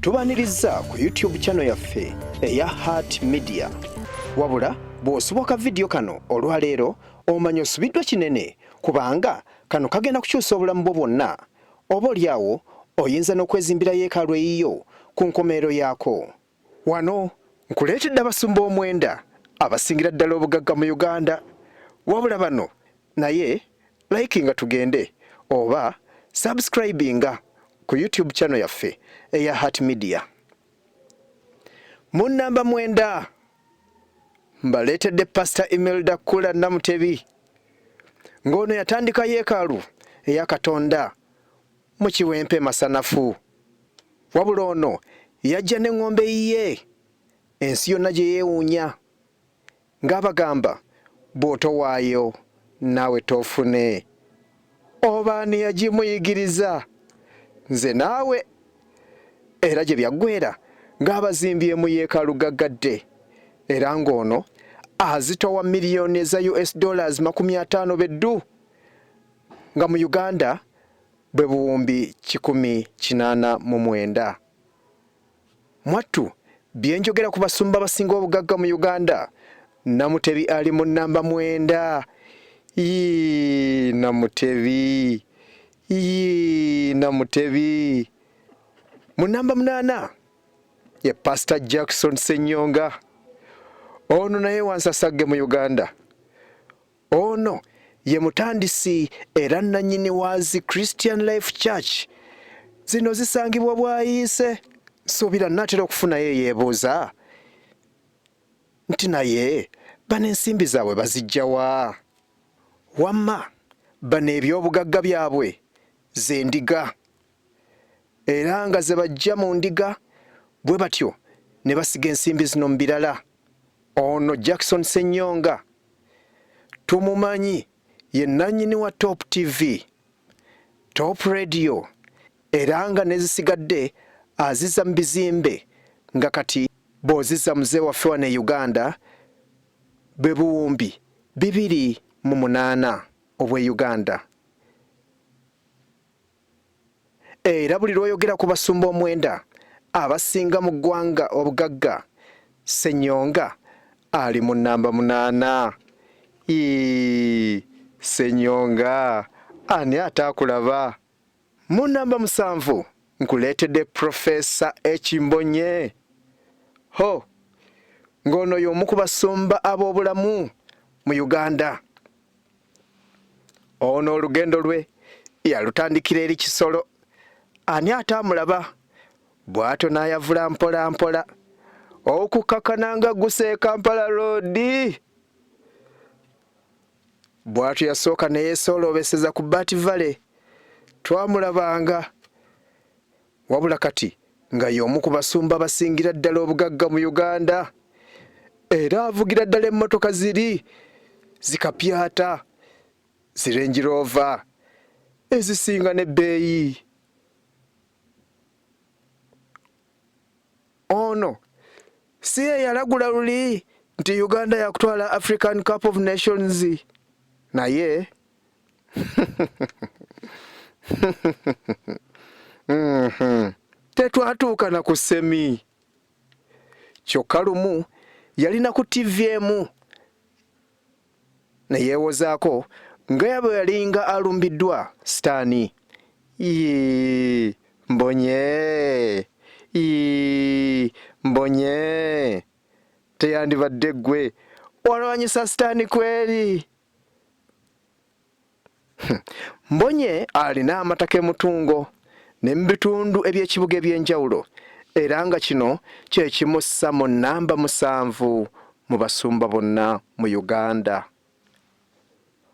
Tubaniriza ku YouTube channel yaffe eya Heart Media. Wabula bw'osoboka vidiyo kano olwaleero omanya osubiddwa kinene kubanga kano kagenda kukyusa obulamu bwo bwonna. Oba olyawo oyinza n'okwezimbira yeekaalu eyiyo ku nkomerero yaako. Wano nkuleetedde abasumba omwenda abasingira ddala obugagga mu Uganda. Wabula bano Naye likinga tugende oba subscribinga ku YouTube channel yaffe eya Heart Media. Mu namba mwenda mbaleetedde Pastor Imelda Kula Namutebi ng'ono yatandika yeekaalu eya Katonda mu Kiwempe Masanafu. Wabula ono yajja n'eŋŋombe yiye ensi yonna gye yeewuunya. ng'abagamba bw'otowaayo naawe toofune. Oba ani yagimuyigiriza? Nze naawe. Era gye byaggweera ng'abazimbye mu yeekaalu gaggadde era ng'ono azitowa miliyoni eza US dollars makumi ataano be ddu nga mu Uganda bwe buwumbi kikumi kinaana mu mwenda. Mwattu, Bye njogera ku basumba abasinga obugagga mu Uganda, Namutebi ali mu nnamba mwenda. Yii Namutebi, yii Namutebi. Mu nnamba munaana ye Pasita Jackson Ssenyonga. Ono naye wansasagge mu Uganda. Ono ye mutandisi era nnannyini wa zi Christian Life Church. Zino zisangibwa Bwayiise. Nsuubira nnaatera okufunayo eyeebuuza nti naye bano ensimbi zaabwe baziggya wa? Wamma bano ebyobugagga byabwe z'endiga. era nga ze baggya mu ndiga bwe batyo ne basiga ensimbi zino mu birala. Ono Jackson Ssenyonga tumumanyi ye nnannyini wa Top TV, Top Radio era nga n'ezisigadde aziza mu bizimbe nga kati bw'oziza muze waffe wano e Uganda bwe buwumbi bibiri mu munaana obw'e Uganda. era buli lw'oyogera ku basumba omwenda abasinga mu ggwanga obugagga, Ssenyonga ali mu nnamba munaana. Yii, Ssenyonga ani ataakulaba? Mu nnamba musanvu nkuleetedde Profesa Ekimbonye. Ho! Ng'ono y'omu ku basumba ab'obulamu mu Uganda. Ono olugendo lwe yalutandikira eri Kisolo, ani ataamulaba bw'atyo n'ayavula mpola mpola okukakana nga gusa e Kampala roodi bw'atyo yasooka ne yeesooloobeseza ku Bat Valley twamulabanga wabula kati nga y'omu ku basumba abasingira ddala obugagga mu Uganda era avugira ddala emmotoka ziri zikapyata zirengiroova ezisinga n'ebbeeyi ono si ye yalagula luli nti Uganda yakutwala African Cup of Nations naye Mhm. tetwatuuka na ku semi kyokka lumu yalina ku ttivi emu ne yeewozaako nga yabwe yalinga alumbiddwa sitaani yii mbonye yii mbonye teyandibadde ggwe walwanyisa sitaani kweri Hmm. Mbonye alina amataka emutungo ne mu bitundu eby'ekibuga eby'enjawulo era nga kino kye kimussa mu nnamba musanvu mu basumba bonna mu Uganda.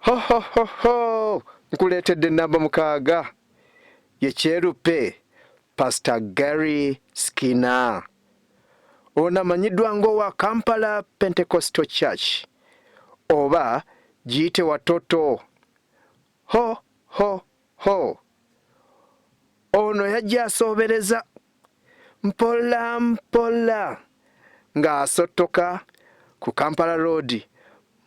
Hohohoho! Nkuleetedde nnamba mukaaga ye kyeruppe Pastor Gary Skinner ono amanyiddwa ng'owa Kampala Pentecostal Church oba giyite watoto ho ho ho ono yajja asoobereza mpola mpola ng'asottoka ku Kampala Road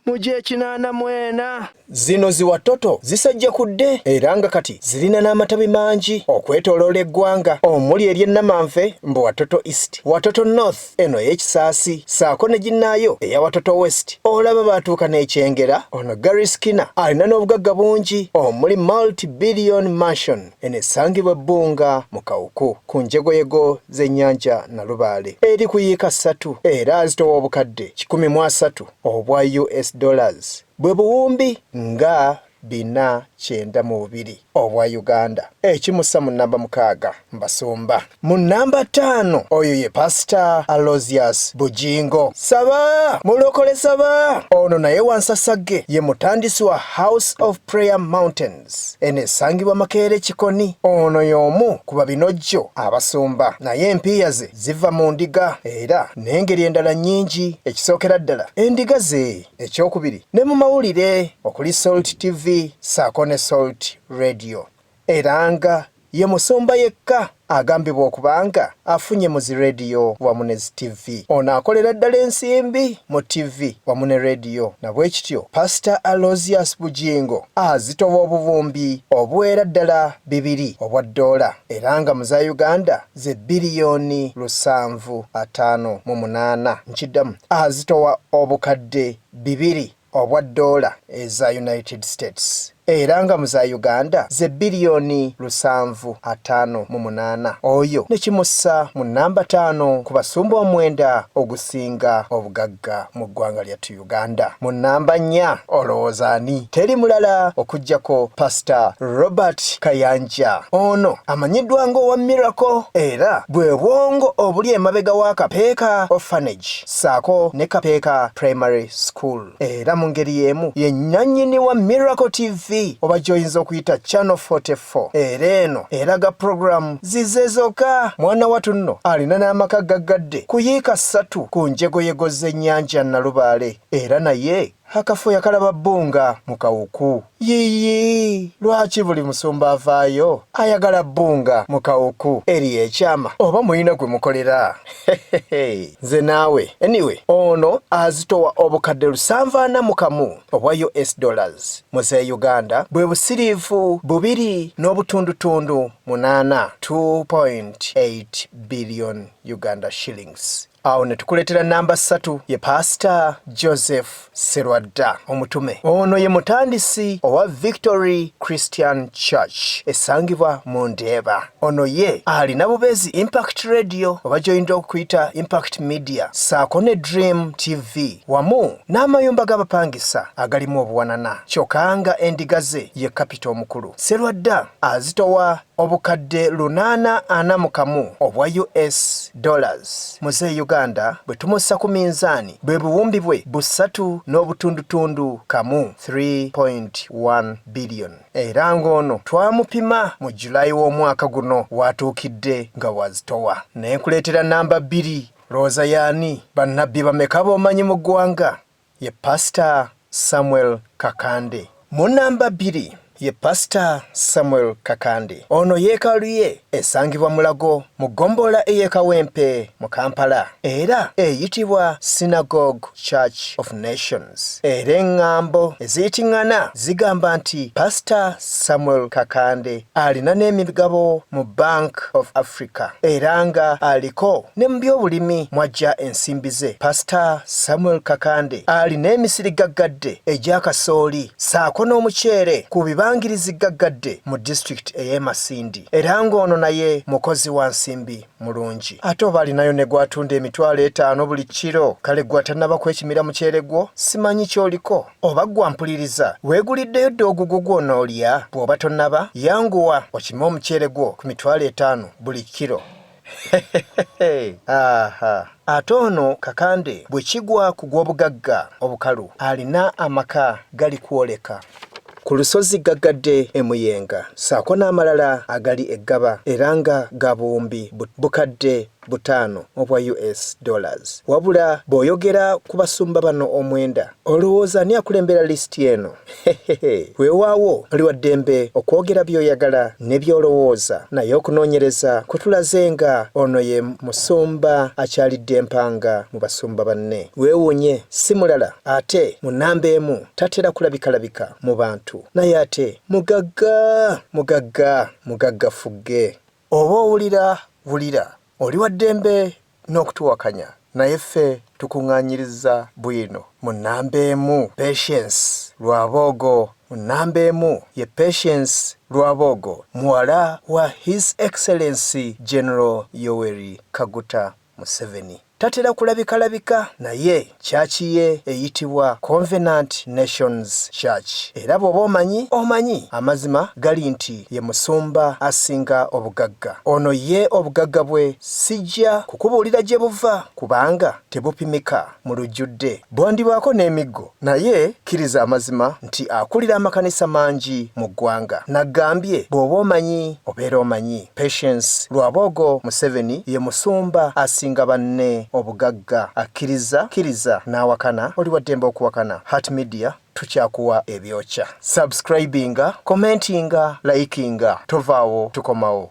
mu gy'ekinaana mwena. Zino zi Watoto zisajjakudde era nga kati zirina n'amatabi mangi okwetoloola eggwanga omuli ery'e Namanve mbu Watoto East, Watoto North eno ey'ekisaasi saako ne ginnaayo eya Watoto West olaba baatuuka n'ekyengera. Ono Gary Skinner alina n'obugagga bungi omuli multi billion mansion eno esangibwa ebbunga mu Kawuku ku njegoyego z'ennyanja Nalubaale eri ku yiika ssatu era azitowa obukadde kikumi mu asatu. obwa US dollars bwe buwumbi nga bina kyenda mu bubiri obwa Uganda, ekimussa mu nnamba mukaaga mu basumba. Mu nnamba ttaano oyo ye Pasita Alozius Bugingo Saba, Mulokole Saba. Ono naye wansasagge ye mutandisi wa House of Prayer Mountain. Gardens eno esangibwa Makeere Kikoni. Ono y'omu ku babinojjo abasumba naye empiiya ze ziva mu ndiga era n'engeri endala nnyingi. Ekisookera ddala endiga ze, ekyokubiri ne mu mawulire okuli Salt TV ssaako ne Salt Radio era nga Ye musumba yekka agambibwa okubanga afunye mu zi Radio wamu ne zi TV. Ono akolera ddala ensimbi mu TV wamu ne Radio nabwekityo Pastor Alozius Bugingo azitowa obuwumbi obuwera ddala bibiri obwa ddoola era nga mu za Uganda ze biliyoni lusanvu ataano mu munaana nkiddamu azitowa obukadde bibiri obwa doola eza United States era nga mu za Uganda ze biliyoni lusanvu ataano mu munaana oyo ne kimussa mu nnamba taano ku basumba omwenda ogusinga obugagga mu ggwanga lyattu Uganda. Mu nnamba nnya olowooza ani? Teri mulala okuggyako Pasita Robert Kayanja. Ono amanyiddwa ng'owa Miracle era bwe bwongo obuli emabega wa Kapeeka Orphanage. ssaako ne Kapeeka Primary School. Era mu ngeri y'emu ye nnannyini wa Miracle TV oba gy'oyinza okuyita Channel 44 era eno eraga pulogulaamu zize zokka. Mwana watu nno alina n'amaka gaggadde ku yiika ssatu ku njegoyego z'ennyanja Nalubaale era naye Akafo yakalaba bbo nga mu kawuku. Yiyi! Lwaki buli musumba avaayo ayagala bbo nga mu kawuku? Eriyo ekyama oba mulina gwe mukolera? Hehehee! Nze naawe! Anyway ono azitowa obukadde lusanvu ana mu kamu obwa US dollars mu z'e Uganda bwe busiriivu bubiri n'obutundutundu munaana, two point eight billion Uganda shillings. awo ne tukuleetera namba ssatu ye paasita joseph serwadda omutume ono ye mutandisi owa victory christian church esangibwa mu ndeeba ono ye alina bubeezi impact radio oba gyoyinza okuyita impact media saako ne dream tv wamu n'amayumba g'abapangisa agalimu obuwanana kyokka nga endiga ze ye kapita omukulu serwadda azitowa Obukadde lunaana ana mu kamu obwa US dollars Muzeeyi Uganda bwe tumussa ku minzaani bwe buwumbi bwe busatu n'obutundutundu kamu, 3.1 billion, era ng'ono twamupima mu July w'omwaka guno w'atuukidde nga w'azitowa. Ne nkuleetera nnamba bbiri. Lowooza y'ani? Bannabbi bameka b'omanyi mu ggwanga? ye Pasita Samuel Kakande. Mu nnamba bbiri ye Pasita Samuel Kakande. Ono yeekaalu ye esangibwa Mulago mu ggombolola ey'e Kawempe mu Kampala era eyitibwa Synagogue Church of Nations era eng'ambo eziyiting'ana zigamba nti Pasita Samuel Kakande alina n'emigabo mu Bank of Africa era nga aliko ne mu by'obulimi mw'aggya ensimbi ze. Pasita Samuel Kakande alina emisiri gaggadde egya kasooli ssaako n'omuceere ku bibangirizi gaggadde mu disitulikiti ey'e Masindi era ng'ono naye mukozi wa nsimbi mulungi. Ate oba alinayo ne gw'atunda emitwalo etaano buli kkiro, kale gwe atannaba kwekimira muceere gwo simanyi ky'oliko. Oba ggwe ampuliriza, weeguliddeyo dda ogugwo gw'onoolya? Bw'oba tonnaba, yanguwa okime omuceere gwo ku mitwalo etaano buli kkiro. Aha! Ate ono Kakande bwe kigwa ku gw'obugagga obukalu, alina amaka gali kwoleka. Ku lusozi ggaggadde e Muyenga ssaako n'amalala agali e Ggaba era nga ga buwumbi bukadde butaano obwa US dollars. Wabula bw'oyogera ku basumba bano omwenda olowooza ani akulembera lisiti eno? Hehehe, weewaawo oli wa ddembe okwogera by'oyagala ne by'olowooza naye okunoonyereza kutulaze nga ono ye musumba akyalidde empanga mu basumba banne. Weewuunye si mulala ate mu nnamba emu tatera kulabikalabika mu bantu naye ate mugagga, mugagga, mugagga ffugge. Oba owulira wulira, oli wa ddembe n'okutuwakanya naye ffe tukungaanyirizza bwino mu nnamba emu, Patience Rwaboogo Mu nnamba emu ye Patience Rwaboogo muwala wa His Excellency General Yoweri Kaguta Museveni tatera kulabikalabika naye church ye eyitibwa Convenant Nations Church era bwoba omanyi omanyi amazima gali nti ye musumba asinga obugagga ono ye obugagga bwe sijja kukubuulira gyebuva kubanga tebupimika. mu lujjudde bwandibaako n'emiggo naye kkiriza amazima nti akulira amakanisa mangi mu ggwanga naggambye bw'oba omanyi obeera omanyi patience lwaboogo museveni ye musumba asinga banne obugagga akkiriza kkiriza n'awakana oli waddembe okuwakana heart media tukyakuwa ebyokya subscribinga commentinga likinga tovaawo tukomawo